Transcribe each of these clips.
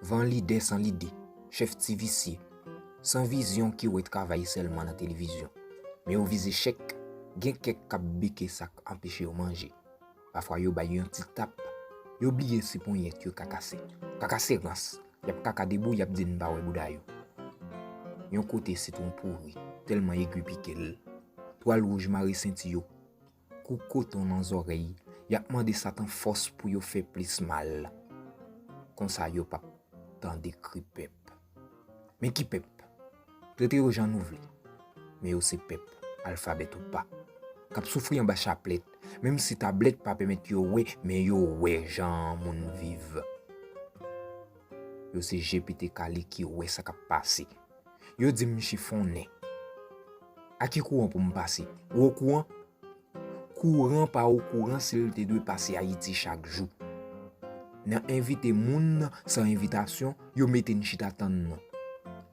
Van lidè san lide, chèf ti visye, san vizyon ki wè travay sèlman nan televizyon. Men yo vize chèk, gen kèk k ap beke sa k anpeche yo manje. Pafwa yo bay yon ti tap, yo bliye si ponyèt yo ka kase. Kaka se rans, y ap kaka debou y ap di n pa wè bouda yo. Yon kote sitwon pouri, tèlman egri pike l, twal wouj mare senti yo. Kou koton nan zòrèy, y ap mande Satan fòs pou yo fè plis mal. Konsa yo pap tande kri pèp. Men ki pèp? Trete yo jan nou vle, men yo se pèp, alfabèt ou pa, k ap soufri anba chaplèt, menm si tablèt pa pèmèt yo wè, men yo wè jan moun viv. Yo se je pete kale ki wè sa k ap pase. Yo di m chifonnen. A ki kouran pou m pase? Ou okouran? Kouran pa okouran si l te dwe pase Ayiti chak jou. Nan envite moun nan san envitasyon, yo mete n chita tann nan.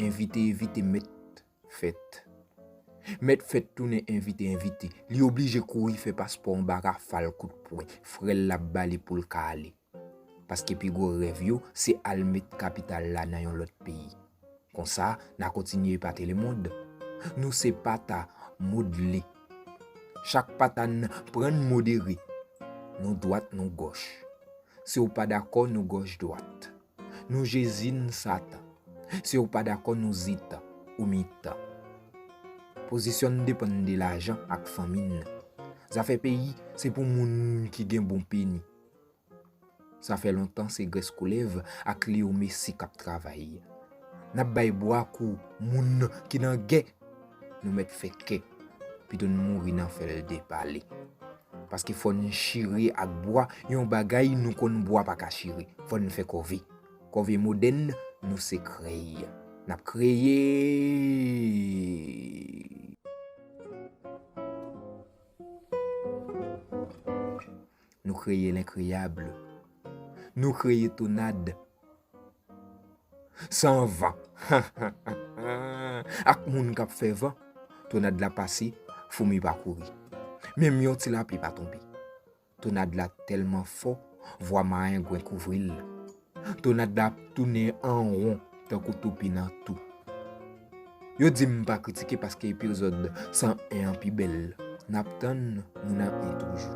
Envite evite mèt fèt. Mèt fèt tounen envite envite. Li oblije kouri fè paspò anba rafal kout pwen. Frè l l ap ba li pou l ka ale. Paske pi gwo rèv yo se al met kapital la nan yon lòt peyi. Konsa, na kontinye epate lemond. Nou se pata modle. Chak pata n pran n modere. Nou dwat nou gòch. Si w pa dakò nou gòch dwat. Nou Jezi n Satan. Si w pa dakò nou zitan, ou mitan. Pozisyon n depann de lajan ak fanmi n. Zafè peyi se pou moun ki gen bon peni. Sa fè lontan se grès koulèv ak Leo Messi kap travay. Nap bay bwa kou moun ki nan gè. Nou mèt fè kè. Pito n mouri nan fè l depale. Paske fò n chire ak bwa yon bagay nou konn bwa pa ka chire. Fò n fè kòve. Kòve modèn nou se krèy. Nap kreye! Nou kreye lenkreyabl. Nou kreye tonad. San van. Ak moun kap fè van. Tonad la pase, foumi pa kouri. Menm yon ti lapli pa tonbe. Tonad la telman fò, vwa mayengwen kouvri l. Tonat da ap tounen an ron tankou toupi nan tou. Yo dim m pa kritike paske epizòd 101 an pi bèl. Nap tann nou nan 1 toujou.